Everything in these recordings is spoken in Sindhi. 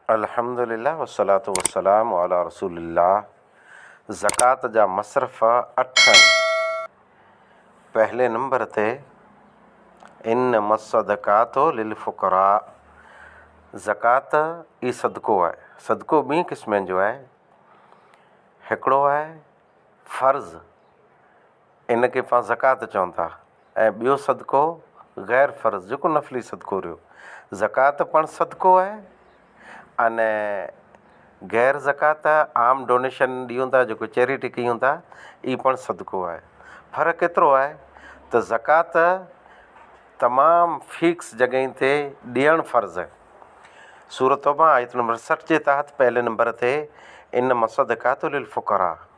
الحمدلله والصلوة والسلام علی رسول الله زڪوات جا مصرف اٺ آهن پهلي نمبر تي انما الصدقات للفقراء زڪوات ئي صدقو آهي صدقو ٻئي قسمن جو آهي هڪڙو آهي فرض ان کي پاڻ زڪوات چون ٿا ۽ ٻيو صدقو غير فرض جيڪو نفلي صدقو رهيو. زڪوات پڻ صدقو آهي ان غير زڪوات عام ڊونيشن ڏيون ٿا جيڪو چيريٽي ڪيون ٿا اهي پڻ صدقو آهي. فرق ايترو آهي ته زڪوات تمام فيڪس جڳهين تي ڏيڻ فرض آهي. سورة توبه آيت نمبر سٺ جي تحت پهلي نمبر تي ان مصدقات للفقراء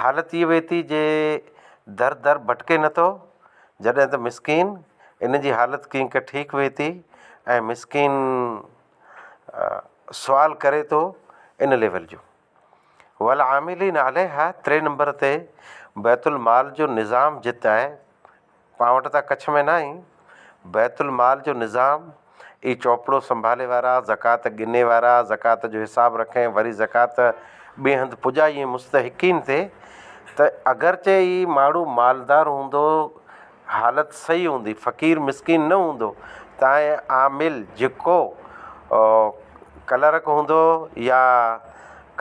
حالت ٿي وئي ٿي جي در در ڀٽڪي نٿو جڏهن ته مسڪين ان جي حالت ڪينڪ ٺيڪ وئي ٿي ۽ مسڪين سوال ڪري ٿو ان ليول جو والعاملين عليها ٽي نمبر تي بيت المال جو نظام جت آهي پاڻ وٽ ته ڪڇ ۾ ناهي، بيت المال جو نظام ئي چوپڙو سنڀالي وارا، زڪوات ڳني وارا، زڪوات جو حساب رکي ۽ وري زڪوات ٻئي هنڌ پڄائي ۽ مستحقين تي ته اگرچه هي ماڻهو مالدار هوندو، حالت صحيح هوندي، فقير مسڪين نه هوندو تانئن عامل جيڪو ڪلرڪ هوندو يا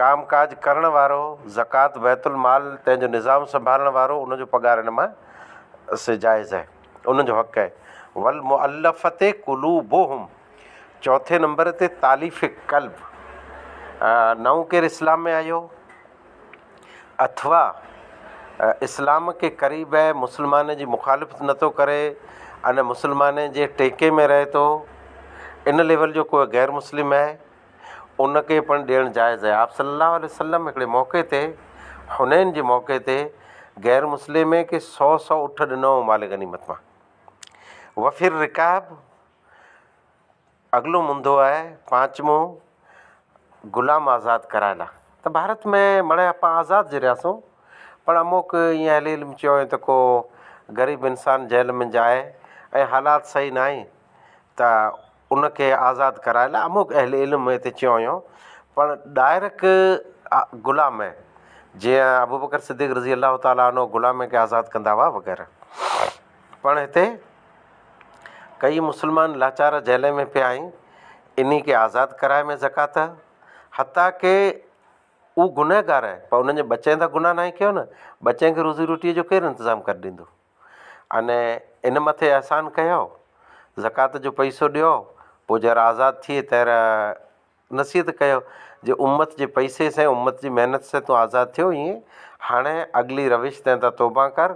ڪام ڪاج ڪرڻ وارو زڪوات بيت المال تنهن جو نظام سنڀالڻ وارو ان جو پگهار ان مان سي جائز هي انهن جو حق هي والمؤلفة قلوبهم چوٿين نمبر تي تاليف قلب نئون ڪير اسلام ۾ آيو اٿوا اسلام کي قريب هي مسلمان جي مخالفت نه ٿو ڪري ان مسلمان جي ٽيڪي ۾ رهي ٿو ان ليول جو ڪو غير مسلم هي ان کي پڻ ڏيڻ جائز آهي. آپ صلّي اللّٰه عليه وسلّم هڪڙي موقعي تي حنين جي موقعي تي غير مسلمين کي سؤ سؤ اٺ ڏنا هئا مال غنيمت مان. وفي الرقاب اڳلو منڌو آهي پانچمون غلام آزاد ڪرائڻ لاء ته ڀارت ۾ مڙهي اسان آزاد جي رهياسون پر اموڪ ايئن هلي علم چيو وڃي ته ڪو غريب انسان جيل ۾ جائي ۽ حالات صحيح ناهي ته ان کي آزاد ڪرائڻ لاء اموک اهل علم هتي چيو هيون پر ڊائرڪ غلام جيئن ابو بڪر صديق رضي الله تعالٰي عنه غلام کي آزاد ڪندا هئا وغيره پڻ هتي ڪئي مسلمان لاچار جيلن ۾ پيا آهن انهي کي آزاد ڪرائي ۾ زڪوات حتيٰ ڪي هو گنهگار آهن پر انهن جي ٻچن جا گناه ناهي ڪيو نه ٻچن کي روزي روٽي جو ڪير انتظام ڪري ڏيندو انهي ان مٿي احسان ڪيو، زڪوات جو پئسو ڏيو، پوء جهر آزاد ٿئي تهر نصيحت ڪيو جي امت جي پئسي سين امت جي محنت سين تون آزاد ٿيو ايئن هاڻي اڳلي روش تنهن تان توبه ڪر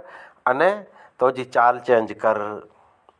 انهي تو جي چال چينج ڪر.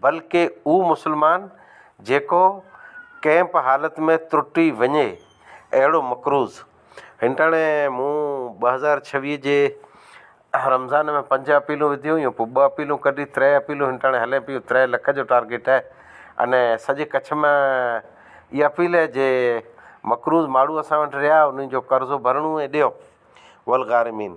بلڪه اھو مسلمان جيڪو ڪنھن بھ حالت ۾ ترٽي وڃي اھڙو مقروض. ھنٽاڻي مون ٻه هزار ڇويھ جي رمضان ۾ پنج اپيلون وڌيون ھيون پوء ٻه اپيلون ڪڍي تري اپيلون ھنٽاڻي ھلين پيون تري لک جو ٽارگيٽ اھي انھي سڄي ڪڇ ۾ اھي اپيل اھي جي مقروض ماڻھو اسان وٽ رھيا انھن جو قرضو ڀرڻو اھي ڏيو والغارمين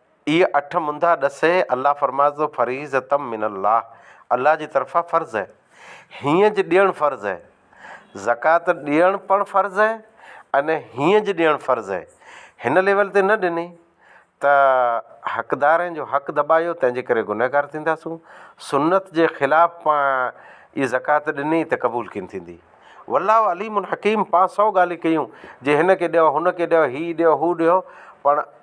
اهي اٺ منڌا ڏسي الله فرمائي ٿو فريضة من الله الله جي طرفان فرض اهي هينئن جي ڏيڻ فرض اهي زڪوات ڏيڻ پڻ فرض اهي ۽ هينئن جي ڏيڻ فرض اهي هن ليول تي نه ڏني ته حقدارين جو حق دٻايو تنهن جي ڪري گنهگار ٿينداسون سنت جي خلاف پا اي زڪوات ڏني ته قبول ڪين ٿيندي والله عليم حڪيم پا سو ڳالهيون ڪيون جي هن کي ڏيو هن کي ڏيو هي ڏيو هو ڏيو پڻ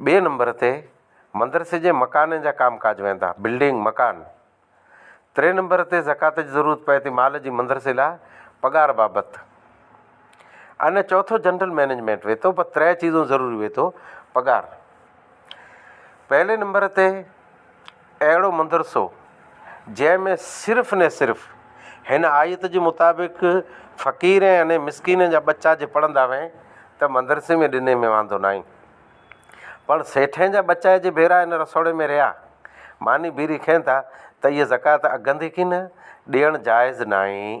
ٻئي نمبر تي مدرسي جي مڪانن جا ڪام ڪاج ويندا، بلڊنگ، مڪان. ٽئين نمبر تي زڪوات جي ضرورت پئي ٿي مال جي مدرسي لاء پگهار بابت. ۽ چوٿو جنرل مينيجمينٽ وي ٿو، بس تري چيزون ضروري وي ٿو، پگهار. پهلي نمبر تي اهڙو مدرسو جنهن ۾ صرف ني صرف هن آيت جي مطابق فقير ۽ اني مسڪين جا ٻچا جي پڙهندا هئين ته مدرسي ۾ ڏني ۾ واندو ناهين پر سيٺين جا ٻچا جي ڀيرا ان رسوڙي ۾ رهيا ماني بيري کين ٿا ته اهي زڪوات اگهندي ڪي نه ڏيڻ جائز ناهين.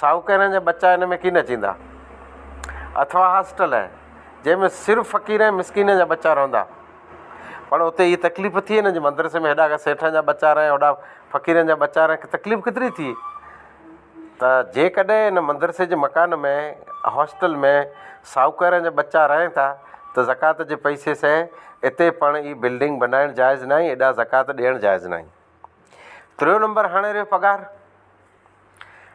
ساهوڪارن جا ٻچا ان ۾ ڪين اچيندا. اٿوا هاسٽل هي، جنهن ۾ صرف فقير ۽ مسڪينن جا ٻچا رهندا. پڻ اتي هيء تڪليف ٿئي نه جو مدرسي ۾ هيڏانهن سيٺن جا ٻچا رهن هوڏانهن فقيرن جا ٻچا رهن تڪليف ڪيتري ٿئي. ته جيڪڏهن ان مدرسي جي مڪان ۾ هاسٽل ۾ ساهوڪارن جا ٻچا رهن ٿا ته زڪوات جي پئسي سهي اتي پڻ هيء بلڊنگ بنائڻ جائز ناهي ايڏا زڪوات ڏيڻ جائز ناهي. تريون نمبر هاڻي رهيو پگهار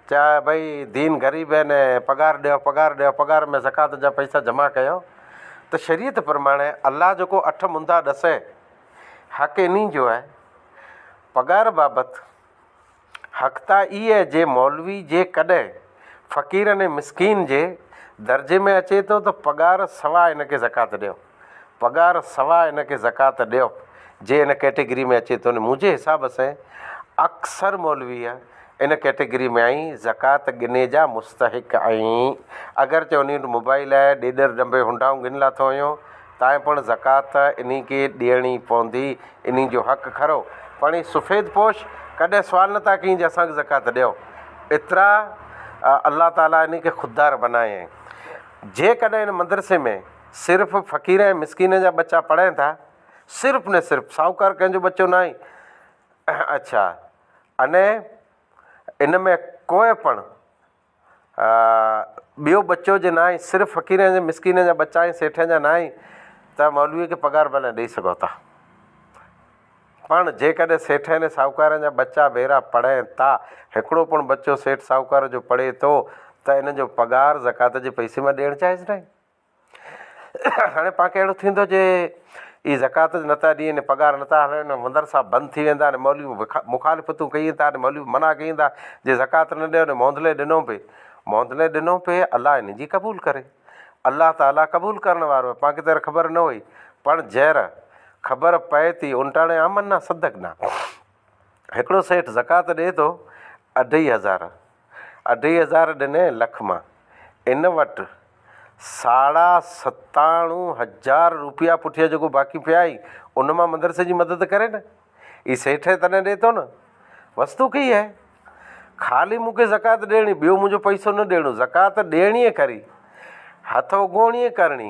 چا ڀئي دين غريب آهن پگهار ڏيو پگهار ڏيو پگهار ۾ زڪوات جا پئسا جمع ڪيو ته شريعت پرماڻي الله جيڪو اٺ مندا ڏسي حق انهي جو آهي پگهار بابت حق ته اي آهي جي مولوي جي ڪڏهن فقيرن ۽ مسڪين جي درجي ۾ اچي ٿو ته پگهار سوا ان کي زڪوات ڏيو پگهار سوا ان کي زڪوات ڏيو جي ان ڪيٽيگري ۾ اچي ٿو ني منهنجي حساب سين اڪثر مولوي ان ڪيٽيگري ۾ آهين زڪوات ڳني جا مستحق آهين اگرچه انهي وٽ موبائل آهي ڏيڏر ڏنڀي هنڊائون ڳن لاٿو هنيو تائين پڻ زڪوات انهي کي ڏيڻي پوندي انهي جو حق کرو پڻ هي سفيد پوش ڪڏهن سوال نه ٿا ڪين جي اسان کي زڪوات ڏيو ايترا الله تعالي انهي کي خوددار بنايائين جيڪڏهن ان مدرسي ۾ صرف فقير ۽ مسڪين جا ٻچا پڙهين ٿا. صرف ني صرف ساهوڪار ڪنهن جو ٻچو نه آهين. اڇا اني ان ۾ ڪوئي پڻ ٻيو ٻچو جي نه آهين صرف فقير ۽ مسڪين جا ٻچا آهين سيٺين جا نه آهين ته مولويء کي پگهار ڀلين ڏئي سگهو ٿا. پڻ جيڪڏهن سيٺين ۽ ساهوڪارن جا ٻچا ڀيرا پڙهين ٿا، هڪڙو پڻ ٻچو سيٺ ساهوڪار جو پڙهي ٿو ته ان جو پگهار زڪوات جي پئسي مان ڏيڻ جائز نه آهي. هاڻي پاڻ کي اهڙو ٿيندو جي هي زڪوات نه ٿا ڏين پگهار نه ٿا هلائين مدرسا بند ٿي ويندا ۽ مولوي مخالفتون ڪيئي ٿا ۽ مولوي منع ڪيئي ٿا جي زڪوات نه ڏيو موندلي ڏنو پي موندلي ڏنو پي الله هن جي قبول ڪري الله تعالي قبول ڪرڻ وارو آهي پاڻ کي ته خبر نه هئي پڻ جهر خبر پئي ٿي ان ٽاڻي آمنا صدقنا هڪڙو سيٺ زڪوات ڏئي ٿو اڍائي هزار، اڍائي هزار ڏنئي لک مان، ان وٽ ساڙها ستاڻو هزار روپيا پٺيان جيڪو باقي پيا آهي، ان مان مدرسي جي مدد ڪري نه، هي سيٺ هي تڏهن ڏئي ٿو نه، وستو ڪهي هي، خالي مون کي زڪوات ڏيڻي، ٻيو منهنجو پئسو نه ڏيڻو، زڪوات ڏيڻي ئي کري، هٿ اگهوڻي ئي ڪرڻي.